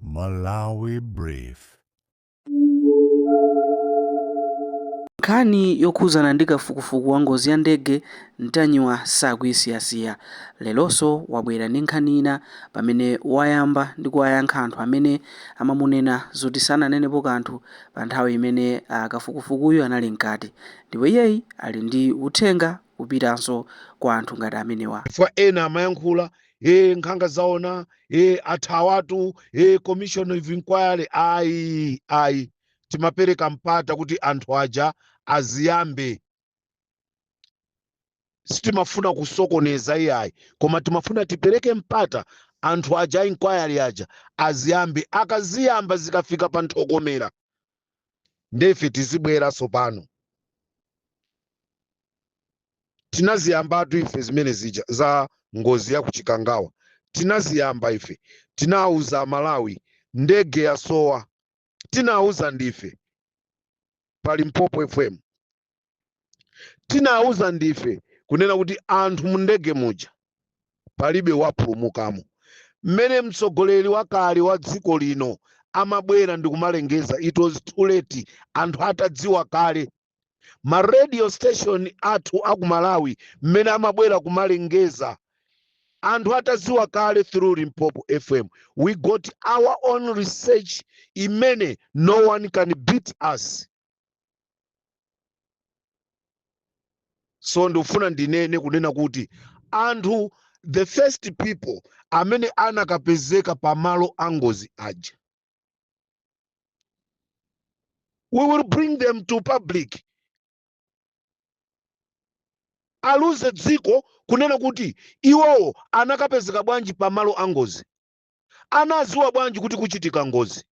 Malawi Brief. Nkhani yokhudzana ndi kafukufuku wa ngozi ya ndege Ntanyiwa sakuyisiyasiya. Leronso wabwera ndi nkhani ina pamene wayamba ndi kuwayankha anthu amene amamunena zoti sananenepo kanthu pa nthawi imene a kafukufukuyu anali mkati. Ndipo iyeyi ali ndi uthenga wopitanso kwa anthu ngati amenewa. Chifukwa ena amayankhula e nkhanga zaona e athawatu e commission of inquiry ayi ayi timapereka mpata kuti anthu aja aziyambe sitimafuna kusokoneza iyayi koma timafuna tipereke mpata anthu aja a inquiry aja aziyambe akaziyamba zikafika pa ntokomera nde ife tizibwera tsopano tinaziyambatu ife zimene zija za ngozi ya kuchikangawa tinaziyamba ife tinauza malawi ndege yasowa tinauza ndife pa Limpopo FM tinawuza ndife kunena kuti anthu mu ndege muja palibe wapulumukamo mmene mtsogoleri wakale wa dziko lino amabwera ndi kumalengeza it was too late anthu atadziwa kale ma radio station athu aku malawi mmene amabwera kumalengeza anthu atadziwa kale through limpopo fm we got our own research imene no one can beat us so ndikufuna ndinene kunena kuti anthu the first people amene anakapezeka pa malo a ngozi aja we will bring them to public aliuze dziko kunena kuti iwowo anakapezeka bwanji pa malo a ngozi anadziwa bwanji kuti kuchitika ngozi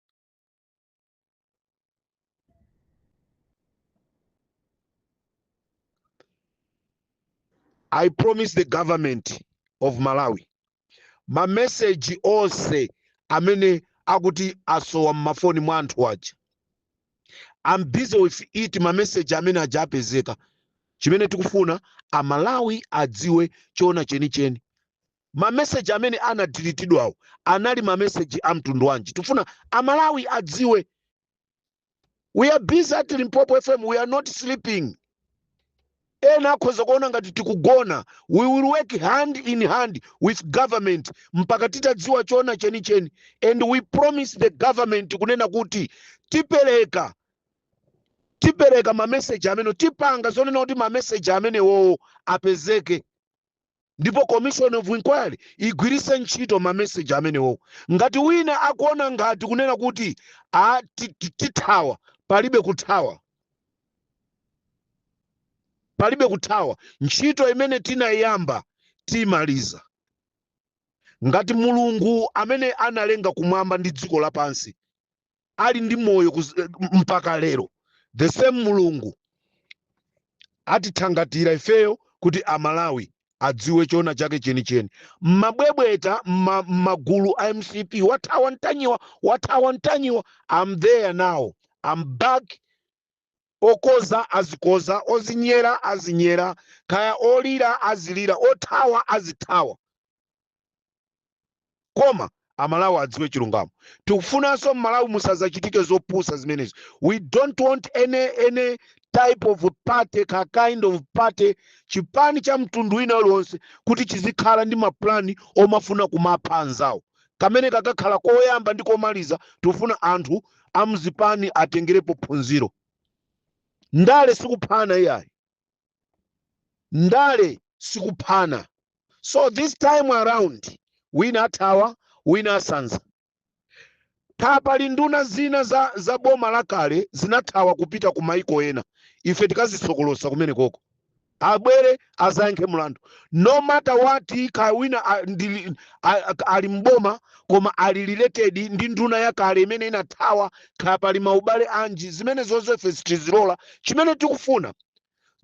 I promise the government of Malawi mameseji onse amene akuti asowa mmafoni mwa anthu aja I'm busy with it mameseji amene aja apezeka chimene tikufuna amalawi adziwe choona chenicheni mameseji amene anadilitidwawo anali mameseji a mtundu wanji tifuna amalawi adziwe we are busy at limpopo fm we are not sleeping ena akhoza kuona ngati tikugona we will work hand in hand with government mpaka titadziwa chona chenicheni and we promise the government kunena kuti tipereka tipereka mameseji amene tipanga zonena kuti mameseji amenewowo apezeke ndipo commission of inquiry igwiritse ntchito mameseji amenewo ngati wina akuona ngati kunena kuti a ti- ti- tithawa palibe kuthawa palibe kuthawa ntchito imene tinayamba timaliza ngati mulungu amene analenga kumwamba ndi dziko lapansi ali ndi moyo kuz- eh, mpaka lero the same mulungu atithangatira ifeyo kuti amalawi adziwe choona chake chenicheni mmabwebweta mma- mmagulu a mcp wathawa ntanyiwa wathawa ntanyiwa am there now am back okoza azikoza ozinyera azinyera kaya olira azilira othawa azithawa koma amalawi adziwe chilungamo tikufunanso mmalawi musazachitike zopusa zimenezi we don't want any, any type of party ka kind of party chipani cha mtundu wina uliwonse kuti chizikhala ndi mapulani omafuna kumapha anzawo kameneka kakhala koyamba ndi komaliza tikufuna anthu amzipani atengerepo phunziro ndale sikuphana iyayi Ndale sikuphana so this time around wina athawa wina asanza. Kaya pali nduna zina za, za boma lakale zinathawa kupita ku maiko ena, ife tikazisokolosa kumenekoko abwere azayankhe mlandu no matter what. Kaya wina a- ndili- a- a- ali mboma koma ali related ndi nduna yakale imene inathawa Kaya pali maubale anji zimenezozo ife sitizilola chimene tikufuna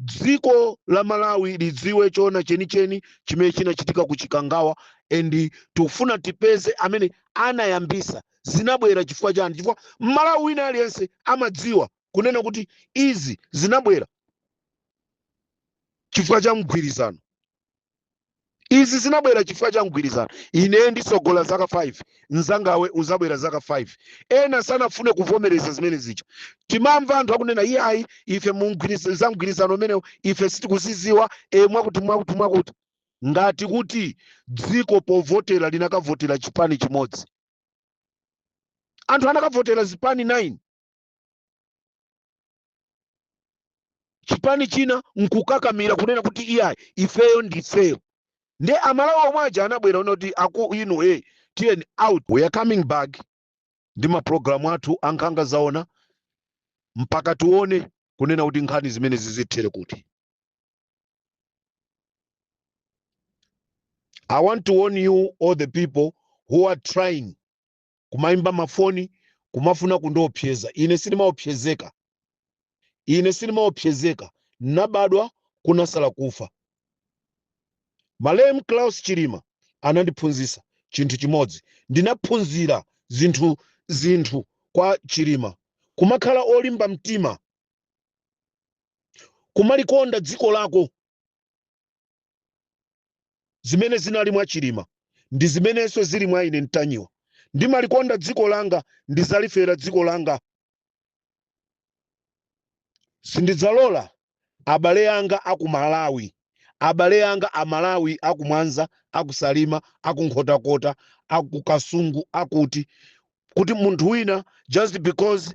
dziko la Malawi lidziwe choona chenicheni chimene chinachitika ku Chikangawa and tikufuna tipeze amene anayambisa zinabwera chifukwa chani chifukwa mmalawi wina aliyense amadziwa kunena kuti izi zinabwera chifukwa cha mgwirizano izi zinabwera chifukwa cha mgwirizano ine nditsogola zaka 5 mzangawe uzabwera zaka 5 ena sanafune kuvomereza zimene zija timamva anthu akunena iyayi ife mu mgwiriz- za mgwirizano umenewu ife sitikuziziwa e, mwakuti mwakuti mwakuti ngati kuti dziko povotera linakavotera chipani chimodzi anthu anakavotera zipani 9 chipani china nkukakamira kunena kuti iyayi ifeyo ndifeyo nde amalawi omwe aja anabwera kunena kuti aku inu e tiyeni out we are coming back ndi mapulogalamu athu a nkhanga zaona mpaka tione kunena kuti nkhani zimenezi zithere kuti i want to warn you all the people who are trying kumaimba mafoni kumafuna kundiopseza ine sindimaopsezeka ine sindimaopsezeka nabadwa kunasala kufa malemu klaus chilima anandiphunzisa chinthu chimodzi ndinaphunzira zinthu kwa chilima kumakhala olimba mtima kumalikonda dziko lako zimene zinali mwa chilima ndi zimenenso zili mwa ine ntanyiwa ndimalikonda dziko langa ndizalifera dziko langa sindidzalola abale yanga akumalawi abale yanga amalawi akumwanza akusalima akunkhotakota akukasungu akuti kuti munthu wina just because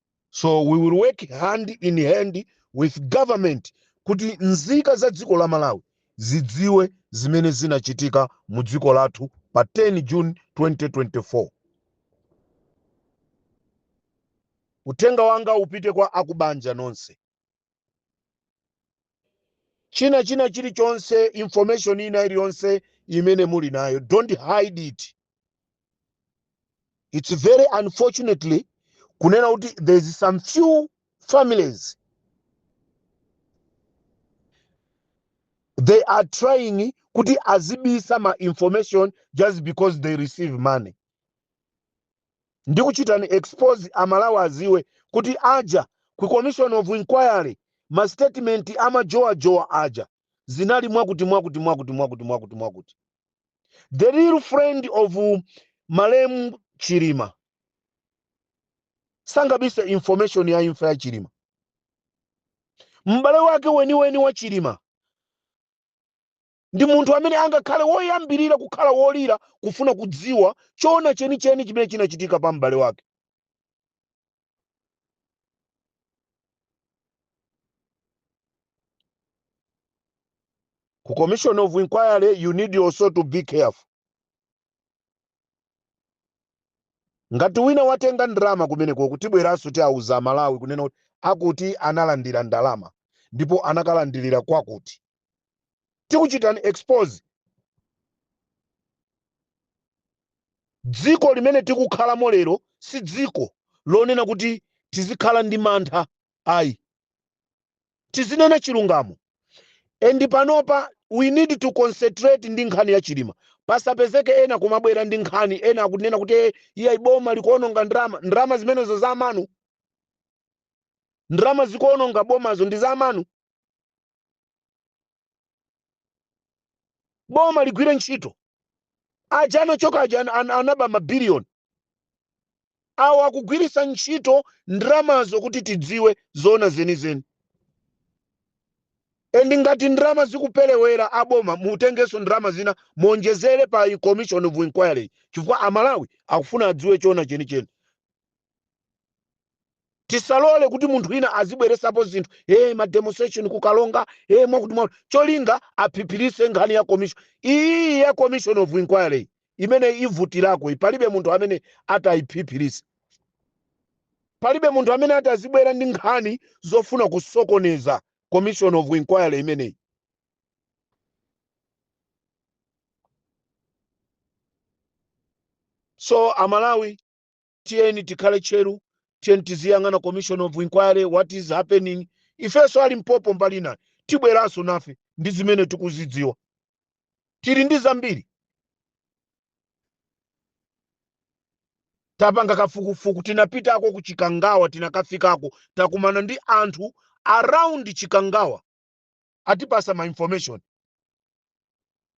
so we will work hand in hand with government kuti nzika za dziko la malawi zidziwe zimene zinachitika mu dziko lathu pa 10 june 2024 uthenga wanga upite kwa akubanja nonse china china chilichonse information ina iliyonse imene muli nayo don't hide it it's very unfortunately kunena kuti there's some few families they are trying kuti azibisa ma information just because they receive money ndikuchitani expose amalawi aziwe kuti aja ku commission of inquiry ma statement amajowajowa aja zinali mwakuti mwakuti mwakuti mwakuti mwakuti mwakuti the real friend of malemu chilima sangabise information ya imfa ya chilima m'bale wake weniweni wa chilima ndi munthu amene angakhale woyambirira kukhala wolira kufuna kudziwa choona chenicheni chimene chinachitika pa m'bale wake. Ku Commission of Inquiry, you need also to be careful. ngati wina watenga ndalama kumenekoku tibweranso tiauza amalawi kunena kuti akuti analandira ndalama ndipo anakalandirira kwakuti tikuchitani expose dziko limene tikukhalamo lero si dziko lonena kuti tizikhala ndi mantha ayi tizinena chilungamo and panopa we need to concentrate ndi nkhani ya chilima pasapezeke ena kumabwera ndi nkhani ena akunena kuti "Eh, iye boma likuononga ndalama ndalama zimenezo za amanu ndalama zikuononga bomazo ndi za amanu boma ligwire ntchito aja anachoka aja an- an- anaba mabiliyoni awo akugwirisa ntchito ndramazo kuti tidziwe zoona zenizeni endi ngati ndrama zikuperewera aboma mutengenso ndrama zina muonjezere pa i- commission of inquiry chifukwa amalawi akufuna adziwe choona chenicheni tisalole kuti munthu wina azibweresapo zinthu e ma demonstration ku Karonga e mwakuti mwa cholinga aphiphirise nkhani ya commission iyi ya commission of inquiry imene ivutirako iyi palibe munthu amene atayiphiphirise palibe munthu amene atazibwera ndi nkhani zofuna kusokoneza commission of inquiry imeneyi so amalawi tiyeni tikhale tcheru tiyeni tiziyang'ana commission of inquiry what is happening ifenso Alimpopo mbali inayi tibweranso nafe ndi zimene tikuzidziwa tili ndi zambiri tapanga kafukufuku tinapitako ku chikangawa tinakafikako takumana ndi anthu around chikangawa atipasa ma information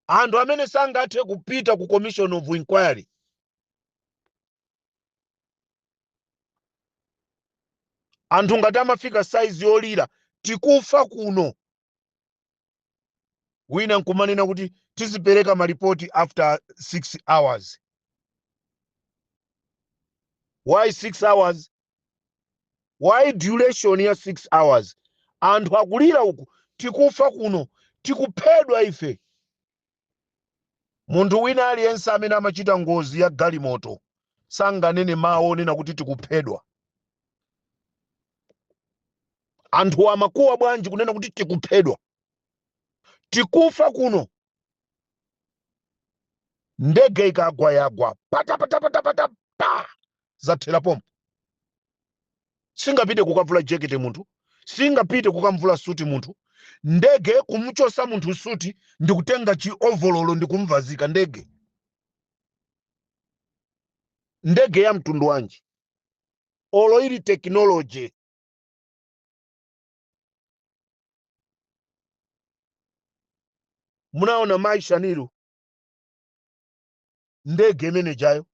anthu amene sangathe kupita ku commission of inquiry anthu ngati amafika saizi yolira tikufa kuno wina nkumanena kuti tizipereka malipoti after 6 hours why 6 hours why duration ya 6 hours anthu akulira uku tikufa kuno tikuphedwa ife munthu wina aliyense amene amachita ngozi ya galimoto sanganene mawu onena kuti tikuphedwa anthu amakuwa bwanji kunena kuti tikuphedwa tikufa kuno ndege ikagwa yagwa patapatapatapata pa zathera pompo. Singapite kukavula jekete munthu, singapite kukamvula suti munthu, ndege kumchosa munthu suti ndikutenga chi ovololo ndikumvazika ndege. Ndege ya mtundu wanji? Olo ili technology munaona mai Shanil ndege imene jayo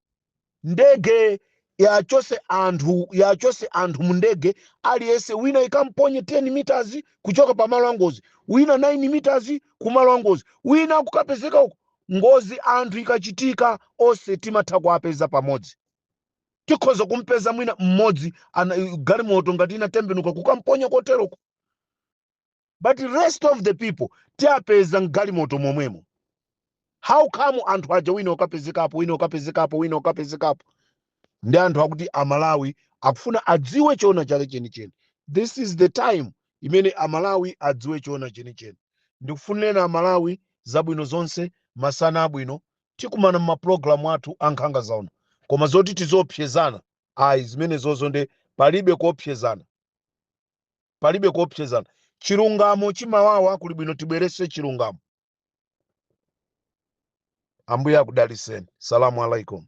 ndege yachose anthu yachose anthu mu ndege aliyense wina ikamponye 10 meters kuchoka pa malo angozi wina 9 meters ku malo angozi wina kukapezeka uko ngozi anthu ikachitika onse timatha kuwapeza pamodzi tikhoza kumpeza mwina mmodzi ana- galimoto ngati inatembenuka kukamponya koteroko but rest of the people tiapeza mgalimoto momwemo how come anthu aja wina ukapezekapo wina ukapezekapo wina ukapezekapo ndi anthu akuti amalawi akufuna adziwe choona chake chenicheni this is the time imene amalawi adziwe choona chenicheni ndikufunireni amalawi zabwino zonse masana abwino tikumana mmapulogalamu athu ankhanga zaona koma zoti tiziopsezana ayi zimenezozo nde palibe kuopsezana palibe kuopsezana chilungamo chimawawa kuli bwino tibwerese chilungamo ambuye akudaliseni salamu alaikum